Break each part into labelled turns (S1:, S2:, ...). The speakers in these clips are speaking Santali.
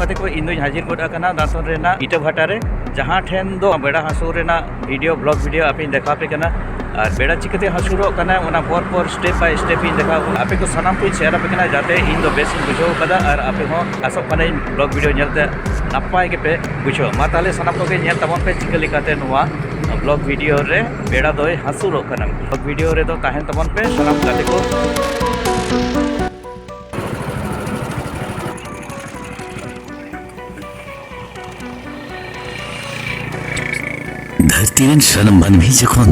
S1: ᱜᱟᱛᱮ ᱠᱚ ᱤᱧ ᱫᱚᱧ ᱦᱟᱡᱤᱨ ᱜᱚᱫ ᱟᱠᱟᱱᱟ ᱫᱟᱸᱛᱚᱱ ᱨᱮᱱᱟᱜ ᱤᱴᱟᱹ ᱵᱷᱟᱴᱟ ᱨᱮ ᱡᱟᱦᱟᱸ ᱴᱷᱮᱱ ᱫᱚ ᱵᱮᱲᱟ ᱦᱟᱹᱥᱩᱨ ᱨᱮᱱᱟᱜ ᱵᱷᱤᱰᱤᱭᱳ ᱵᱞᱚᱜ ᱵᱷᱤᱰᱤᱭᱳ ᱟᱯᱮᱧ ᱫᱮᱠᱷᱟᱣ ᱯᱮ ᱠᱟᱱᱟ ᱟᱨ ᱵᱮᱲᱟ ᱪᱤᱠᱟᱹᱛᱮ ᱦᱟᱹᱥᱩᱨᱚᱜ ᱠᱟᱱᱟ ᱚᱱᱟ ᱯᱚᱨ ᱯᱚᱨ ᱥᱴᱮᱯ ᱵᱟᱭ ᱥᱴᱮᱯ ᱤᱧ ᱫᱮᱠᱷᱟᱣ ᱟᱯᱮ ᱠᱚ ᱥᱟᱱᱟᱢ ᱠᱚᱧ ᱥᱮᱭᱟᱨ ᱟᱯᱮ ᱠᱟᱱᱟ ᱡᱟᱛᱮ ᱤᱧ ᱫᱚ ᱵᱮᱥ ᱤᱧ ᱵᱩᱡᱷᱟᱹᱣ ᱠᱟᱫᱟ ᱟᱨ ᱟᱯᱮ ᱦᱚᱸ ᱟᱥᱚᱜ ᱠᱟᱹᱱᱟᱹᱧ ᱵᱞᱚᱜ ᱵᱷᱤᱰᱤᱭᱳ ᱧᱮᱞᱛᱮ ᱱᱟᱯᱟᱭ ᱜᱮᱯᱮ ᱵᱩᱡᱷᱟᱹᱣ ᱢᱟ ᱛᱟᱦᱞᱮ ᱥᱟᱱᱟᱢ ᱠᱚᱜᱮ ᱧᱮᱞ ᱛᱟᱵᱚᱱ ᱯᱮ ᱪᱤᱠᱟᱹ ᱞᱮᱠᱟᱛᱮ ᱱᱚᱣᱟ ᱵᱞᱚᱜ ᱵᱷᱤᱰᱤᱭᱳ ᱨᱮ ᱵᱮᱲᱟ ᱫᱚᱭ ᱦᱟᱹᱥᱩᱨᱚᱜ ᱠᱟᱱᱟ ᱵᱞᱚᱜ ᱵᱷᱤᱰᱤᱭᱳ ᱨᱮᱫᱚ ᱛᱟᱦᱮᱱ ᱛᱟᱵᱚᱱ ᱯᱮ ᱥᱟᱱᱟᱢ ᱜᱟᱛᱮ ᱠᱚ
S2: ᱫᱷᱟᱹᱨᱛᱤ ᱨᱮᱱ ᱥᱟᱱᱟᱢ ᱢᱟᱹᱱᱢᱤ ᱡᱚᱠᱷᱚᱱ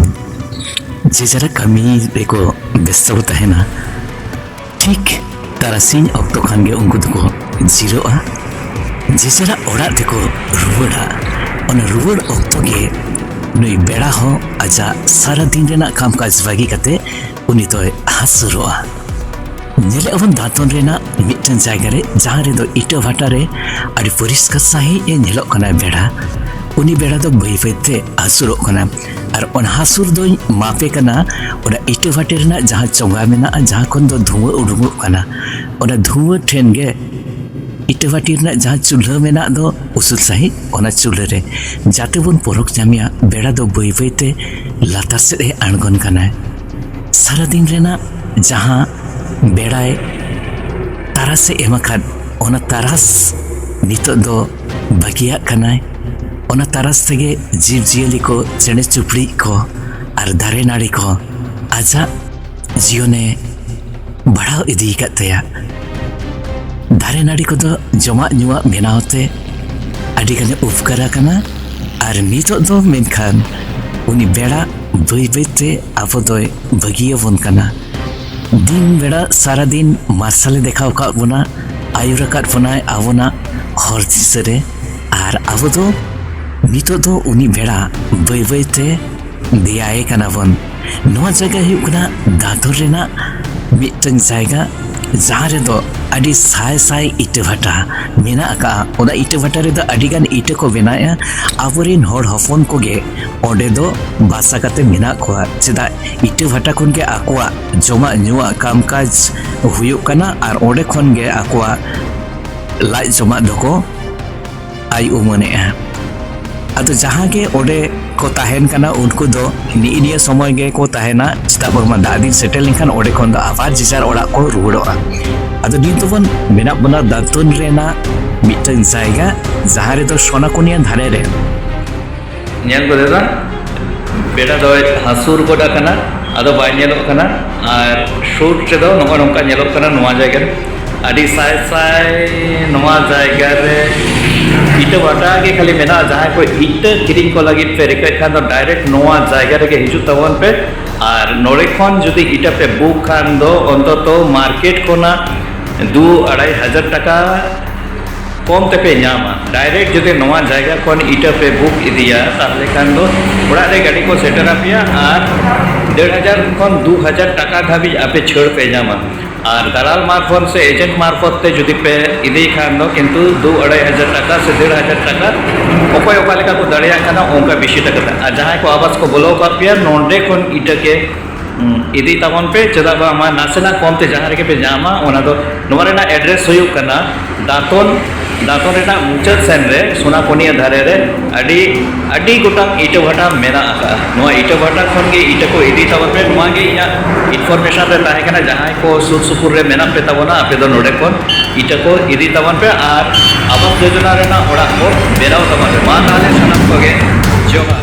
S2: ᱡᱮ ᱡᱟᱨᱟ ᱠᱟᱹᱢᱤ ᱨᱮᱠᱚ ᱵᱮᱥᱛᱚ ᱠᱚ ᱛᱟᱦᱮᱱᱟ ᱴᱷᱤᱠ ᱛᱟᱨᱟᱥᱤᱧ ᱚᱠᱛᱚ ᱠᱷᱟᱱ ᱜᱮ ᱩᱱᱠᱩ ᱫᱚᱠᱚ ᱡᱤᱨᱟᱹᱜᱼᱟ ᱡᱮ ᱡᱟᱨᱟ ᱚᱲᱟᱜ ᱛᱮᱠᱚ ᱨᱩᱣᱟᱹᱲᱟ ᱚᱱᱟ ᱨᱩᱣᱟᱹᱲ ᱚᱠᱛᱚ ᱜᱮ ᱱᱩᱭ ᱵᱮᱲᱟ ᱦᱚᱸ ᱟᱡᱟᱜ ᱥᱟᱨᱟᱫᱤᱱ ᱨᱮᱱᱟᱜ ᱠᱟᱢᱠᱟᱡᱽ ᱵᱟᱹᱜᱤ ᱠᱟᱛᱮ ᱩᱱᱤ ᱫᱚᱭ ᱦᱟᱹᱥᱩᱨᱚᱜᱼᱟ ᱧᱮᱞᱮᱫ ᱟᱵᱚᱱ ᱫᱟᱸᱛᱚᱱ ᱨᱮᱱᱟᱜ ᱢᱤᱫᱴᱮᱱ ᱡᱟᱭᱜᱟ ᱨᱮ ᱡᱟᱦᱟᱸ ᱨᱮᱫᱚ ᱤᱴᱟᱹ ᱵᱷᱟᱴᱟ ᱨᱮ ᱟᱹᱰᱤ ᱯᱚᱨᱤᱥᱠᱟᱨ ᱥᱟᱺᱦᱤᱡ ᱮ ᱧᱮᱞᱚᱜ ᱠᱟᱱᱟ ᱵᱮᱲᱟ ᱩᱱᱤ ᱵᱮᱲᱟ ᱫᱚ ᱵᱟᱹᱭ ᱵᱟᱹᱭᱛᱮ ᱦᱟᱹᱥᱩᱨᱚᱜ ᱠᱟᱱᱟ ᱟᱨ ᱚᱱᱟ ᱦᱟᱹᱥᱩᱨ ᱫᱚᱧ ᱢᱟᱯᱮ ᱠᱟᱱᱟ ᱚᱱᱟ ᱤᱴᱟᱹ ᱵᱷᱟᱴᱟ ᱨᱮᱱᱟᱜ ᱡᱟᱦᱟᱸ ᱪᱚᱸᱜᱟ ᱢᱮᱱᱟᱜᱼᱟ ᱡᱟᱦᱟᱸ ᱠᱷᱚᱱ ᱫᱚ ᱫᱷᱩᱣᱟᱹ ᱩᱰᱩᱠᱚᱜ ᱠᱟᱱᱟ ᱚᱱᱟ ᱫᱷᱩᱣᱟᱹ ᱴᱷᱮᱱ ᱜᱮ ᱤᱴᱟᱹ ᱵᱷᱟᱴᱤ ᱨᱮᱱᱟᱜ ᱡᱟᱦᱟᱸ ᱪᱩᱞᱦᱟᱹ ᱢᱮᱱᱟᱜ ᱫᱚ ᱩᱥᱩᱞ ᱥᱟᱺᱦᱤᱡ ᱚᱱᱟ ᱪᱩᱞᱦᱟᱹ ᱨᱮ ᱡᱟᱛᱮ ᱵᱚᱱ ᱯᱚᱨᱚᱠ ᱧᱟᱢᱮᱭᱟ ᱵᱮᱲᱟ ᱫᱚ ᱵᱟᱹᱭ ᱵᱟᱹᱭᱛᱮ ᱞᱟᱛᱟᱨ ᱥᱮᱫ ᱮ ᱟᱬᱜᱚᱱ ᱠᱟᱱᱟᱭ ᱥᱟᱨᱟᱫᱤᱱ ᱨᱮᱱᱟᱜ ᱡᱟᱦᱟᱸ ᱵᱮᱲᱟᱭ ᱛᱟᱨᱟᱥ ᱮ ᱮᱢ ᱟᱠᱟᱫ ᱚᱱᱟ ᱛᱟᱨᱟᱥ ᱱᱤᱛᱚᱜ ᱫᱚ ᱵᱟᱹᱜᱤᱭᱟᱜ ᱠᱟᱱᱟᱭ ᱚᱱᱟ ᱛᱟᱨᱟᱥ ᱛᱮᱜᱮ ᱡᱤᱵᱽᱼᱡᱤᱭᱟᱹᱞᱤ ᱠᱚ ᱪᱮᱬᱮ ᱪᱩᱯᱲᱤᱡ ᱠᱚ ᱟᱨ ᱫᱟᱨᱮ ᱱᱟᱹᱲᱤ ᱠᱚ ᱟᱡᱟᱜ ᱡᱤᱭᱚᱱᱮ ᱵᱟᱲᱦᱟᱣ ᱤᱫᱤ ᱟᱠᱟᱫ ᱛᱟᱭᱟ ᱫᱟᱨᱮ ᱱᱟᱹᱲᱤ ᱠᱚᱫᱚ ᱡᱚᱢᱟᱜ ᱧᱩᱣᱟᱜ ᱵᱮᱱᱟᱣ ᱛᱮ ᱟᱹᱰᱤ ᱜᱟᱱᱮ ᱩᱯᱠᱟᱨ ᱟᱠᱟᱱᱟ ᱟᱨ ᱱᱤᱛᱚᱜ ᱫᱚ ᱢᱮᱱᱠᱷᱟᱱ ᱩᱱᱤ ᱵᱮᱲᱟ ᱵᱟᱹᱭ ᱵᱟᱹᱭᱛᱮ ᱟᱵᱚ ᱫᱚᱭ ᱵᱟᱹᱜᱤᱭᱟᱵᱚᱱ ᱠᱟᱱᱟ ᱫᱤᱱ ᱵᱮᱲᱟ ᱥᱟᱨᱟᱫᱤᱱ ᱢᱟᱨᱥᱟᱞᱮ ᱫᱮᱠᱷᱟᱣ ᱟᱠᱟᱫ ᱵᱚᱱᱟ ᱟᱹᱭᱩᱨ ᱟᱠᱟᱫ ᱵᱚᱱᱟᱭ ᱟᱵᱚᱱᱟᱜ ᱦᱚᱨ ᱫᱤᱥᱟᱹ ᱨᱮ ᱟᱨ ᱟᱵᱚ ᱫᱚ ᱱᱤᱛᱚᱜ ᱫᱚ ᱩᱱᱤ ᱵᱮᱲᱟ ᱵᱟᱹᱭ ᱵᱟᱹᱭᱛᱮ ᱫᱮᱭᱟᱭᱮ ᱠᱟᱱᱟ ᱵᱚᱱ ᱱᱚᱣᱟ ᱡᱟᱭᱜᱟ ᱦᱩᱭᱩᱜ ᱠᱟᱱᱟ ᱫᱟᱫᱩᱨ ᱨᱮᱱᱟᱜ ᱢᱤᱫᱴᱟᱝ ᱡᱟᱭᱜᱟ ᱡᱟᱦᱟᱸ ᱨᱮᱫᱚ ᱟᱹᱰᱤ ᱥᱟᱭ ᱥᱟᱭ ᱤᱴᱟᱹ ᱵᱷᱟᱴᱟ ᱢᱮᱱᱟᱜ ᱟᱠᱟᱫᱼᱟ ᱚᱱᱟ ᱤᱴᱟᱹ ᱵᱷᱟᱴᱟ ᱨᱮᱫᱚ ᱟᱹᱰᱤᱜᱟᱱ ᱤᱴᱟᱹ ᱠᱚ ᱵᱮᱱᱟᱣᱮᱫᱼᱟ ᱟᱵᱚᱨᱮᱱ ᱦᱚᱲ ᱦᱚᱯᱚᱱ ᱠᱚᱜᱮ ᱚᱸᱰᱮ ᱫᱚ ᱵᱟᱥᱟ ᱠᱟᱛᱮ ᱢᱮᱱᱟᱜ ᱠᱚᱣᱟ ᱪᱮᱫᱟᱜ ᱤᱴᱟᱹ ᱵᱷᱟᱴᱟ ᱠᱷᱚᱱ ᱜᱮ ᱟᱠᱚᱣᱟᱜ ᱡᱚᱢᱟᱜ ᱧᱩᱣᱟᱜ ᱠᱟᱢ ᱠᱟᱡᱽ ᱦᱩᱭᱩᱜ ᱠᱟᱱᱟ ᱟᱨ ᱚᱸᱰᱮ ᱠᱷᱚᱱ ᱜᱮ ᱟᱠᱚᱣᱟᱜ ᱞᱟᱡ ᱡᱚᱢᱟᱜ ᱫᱚᱠᱚ ᱟᱭ ᱩᱢᱟᱹᱱᱮᱜᱼᱟ ᱟᱫᱚ ᱡᱟᱦᱟᱸ ᱜᱮ ᱚᱸᱰᱮ ᱠᱚ ᱛᱟᱦᱮᱱ ᱠᱟᱱᱟ ᱩᱱᱠᱩ ᱫᱚ ᱱᱤᱜ ᱱᱤᱭᱟᱹ ᱥᱚᱢᱚᱭ ᱜᱮ ᱠᱚ ᱛᱟᱦᱮᱱᱟ ᱪᱮᱫᱟᱜ ᱵᱟᱝᱢᱟ ᱫᱟᱜ ᱫᱤᱱ ᱥᱮᱴᱮᱨ ᱞᱮᱱᱠᱷᱟᱱ ᱚᱸᱰᱮ ᱠᱷᱚᱱ ᱫᱚ ᱟᱵᱟᱨ ᱡᱮᱡᱟᱨ ᱚᱲᱟᱜ ᱠᱚ ᱨᱩᱣᱟᱹᱲᱚᱜᱼᱟ ᱟᱫᱚ ᱱᱤᱛ ᱫᱚᱵᱚᱱ ᱢᱮᱱᱟᱜ ᱵᱚᱱᱟ ᱫᱟᱛᱩᱱ ᱨᱮᱱᱟᱜ ᱢᱤᱫᱴᱟᱝ ᱡᱟᱭᱜᱟ ᱡᱟᱦᱟᱸ ᱨᱮᱫᱚ ᱥᱚᱱᱟᱠᱚᱱᱤᱭᱟ ᱫᱷᱟᱨᱮ ᱨᱮ
S1: ᱧᱮᱞ ᱠᱚ ᱫᱟᱫᱟ ᱵᱮᱲᱟ ᱫᱚ ᱦᱟᱹᱥᱩᱨ ᱜᱚᱫ ᱟᱠᱟᱱᱟ ᱟᱫᱚ ᱵᱟᱭ ᱧᱮᱞᱚᱜ ᱠᱟᱱᱟ ᱟᱨ ᱥᱩᱨ ᱨᱮᱫᱚ ᱱᱚᱜᱼᱚ ᱱᱚᱝᱠᱟ ᱧᱮᱞᱚᱜ ᱠᱟᱱᱟ ᱱᱚᱣᱟ ᱡᱟᱭᱜᱟ ᱨᱮ ᱟᱹᱰᱤ ᱥᱟᱭ ᱥᱟᱭ ᱱᱚᱣᱟ ᱡᱟᱭᱜᱟ ᱨᱮ ᱤᱴᱟᱹ ᱵᱷᱟᱴᱟ ᱜᱮ ᱠᱷᱟᱹᱞᱤ ᱢᱮᱱᱟᱜᱼᱟ ᱡᱟᱦᱟᱸᱭ ᱠᱚ ᱤᱴᱟᱹ ᱠᱤᱨᱤᱧ ᱠᱚ ᱞᱟᱹᱜᱤᱫ ᱯᱮ ᱨᱤᱠᱟᱹᱭ ᱠᱷᱟᱱ ᱫᱚ ᱰᱟᱭᱨᱮᱠᱴ ᱱᱚᱣᱟ ᱡᱟᱭᱜᱟ ᱨᱮᱜᱮ ᱦᱤᱡᱩᱜ ᱛᱟᱵᱚᱱ ᱯᱮ ᱟᱨ ᱱᱚᱰᱮ ᱠᱷᱚᱱ ᱡᱩᱫᱤ ᱤᱴᱟᱹ ᱯᱮ ᱵᱩᱠ ᱠᱷᱟᱱ ᱫᱚ ᱚᱱᱛᱚᱛᱚ ᱢᱟᱨᱠᱮᱴ ᱠᱷᱚᱱᱟᱜ ᱫᱩ ᱟᱲᱟᱭ ᱦᱟᱡᱟᱨ ᱴᱟᱠᱟ ᱠᱚᱢ ᱛᱮᱯᱮ ᱧᱟᱢᱟ ᱰᱟᱭᱨᱮᱠᱴ ᱡᱩᱫᱤ ᱱᱚᱣᱟ ᱡᱟᱭᱜᱟ ᱠᱷᱚᱱ ᱤᱴᱟᱹ ᱯᱮ ᱵᱩᱠ ᱤᱫᱤᱭᱟ ᱛᱟᱦᱞᱮ ᱠᱷᱟᱱ ᱫᱚ ᱚᱲᱟᱜ ᱨᱮ ᱜᱟᱹᱰᱤ ᱠᱚ ᱥᱮᱴᱮᱨ ᱟᱯᱮᱭᱟ ᱟᱨ ᱰᱮᱲ ᱦᱟᱡᱟᱨ ᱠᱷᱚᱱ ᱫᱩ ᱦᱟᱡᱟᱨ ᱴᱟᱠᱟ ᱫᱷᱟᱹᱵᱤᱡ ᱟᱯᱮ ᱪᱷᱟᱹᱲ ᱯᱮ ᱧᱟᱢᱟ ᱟᱨ ᱫᱟᱞᱟᱞ ᱢᱟᱨᱯᱷᱚᱛ ᱥᱮ ᱮᱡᱮᱱᱴ ᱢᱟᱨᱯᱷᱚᱛ ᱛᱮ ᱡᱩᱫᱤ ᱯᱮ ᱤᱫᱤ ᱠᱷᱟᱱ ᱫᱚ ᱠᱤᱱᱛᱩ ᱫᱩ ᱟᱲᱟᱭ ᱦᱟᱡᱟᱨ ᱴᱟᱠᱟ ᱥᱮ ᱰᱮᱲ ᱦᱟᱡᱟᱨ ᱴᱟᱠᱟ ᱚᱠᱚᱭ ᱚᱠᱟ ᱞᱮᱠᱟ ᱠᱚ ᱫᱟᱲᱮᱭᱟᱜ ᱠᱟᱱᱟ ᱚᱱᱠᱟ ᱵᱮᱥᱤ ᱴᱟᱠᱟ ᱟᱨ ᱡᱟᱦᱟᱸᱭ ᱠᱚ ᱟᱵᱟᱥ ᱠᱚ ᱵᱚᱞᱚ ᱟᱠᱟᱫ ᱯᱮᱭᱟ ᱱᱚᱰᱮ ᱠᱷᱚᱱ ᱤᱴᱟᱹ ᱠᱮ ᱤᱫᱤ ᱛᱟᱵᱚᱱ ᱯᱮ ᱪᱮᱫᱟᱜ ᱵᱟᱝᱢᱟ ᱱᱟᱥᱮᱱᱟᱜ ᱠᱚᱢ ᱛᱮ ᱡᱟᱦᱟᱸ ᱨᱮᱜᱮ ᱯᱮ ᱧᱟᱢᱟ ᱚᱱᱟ ᱫᱚ ᱱᱚᱣᱟ ᱨᱮᱱᱟᱜ ᱮᱰᱨᱮᱥ ᱦᱩᱭᱩᱜ ᱠᱟᱱᱟ ᱫᱟᱸᱛᱚᱱ ᱫᱟᱸᱛᱚᱱ ᱨᱮᱱᱟᱜ ᱢᱩᱪᱟᱹᱫ ᱥᱮᱱ ᱨᱮ ᱥᱳᱱᱟᱯᱚᱱᱤᱭᱟ ᱫᱷᱟᱨᱮ ᱨᱮ ᱟᱹᱰᱤ ᱟᱹᱰᱤ ᱜᱚᱴᱟᱝ ᱤᱴᱟᱹ ᱵᱷᱟᱴᱟ ᱢᱮᱱᱟᱜ ᱟᱠᱟᱫᱼᱟ ᱱᱚᱣᱟ ᱤᱴᱟᱹ ᱵᱷᱟᱴᱟ ᱠᱷᱚᱱ ᱜᱮ ᱤᱴᱟᱹ ᱠᱚ ᱤᱫᱤ ᱛᱟᱵᱚᱱ ᱯᱮ ᱱᱚᱣᱟ ᱜᱮ ᱤᱧᱟᱹᱜ ᱤᱱᱯᱷᱚᱨᱢᱮᱥᱚᱱ ᱨᱮ ᱛᱟᱦᱮᱸ ᱠᱟᱱᱟ ᱡᱟᱦᱟᱸᱭ ᱠᱚ ᱥᱩᱨ ᱥᱩᱯᱩᱨ ᱨᱮ ᱢᱮᱱᱟᱜ ᱯᱮ ᱛᱟᱵᱚᱱᱟ ᱟᱯᱮ ᱫᱚ ᱱᱚᱰᱮ ᱠᱷᱚᱱ ᱤᱴᱟᱹ ᱠᱚ ᱤᱫᱤ ᱛᱟᱵᱚᱱ ᱯᱮ ᱟᱨ ᱟᱵᱟᱥ ᱡᱳᱡᱚᱱᱟ ᱨᱮᱱᱟᱜ ᱚᱲᱟᱜ ᱠᱚ ᱵᱮᱱᱟᱣ ᱛᱟᱵᱚᱱ ᱯᱮ ᱢᱟ ᱛᱟᱦᱚᱞᱮ ᱥᱟᱱᱟᱢ ᱠᱚᱜᱮ ᱡᱚᱦᱟᱨ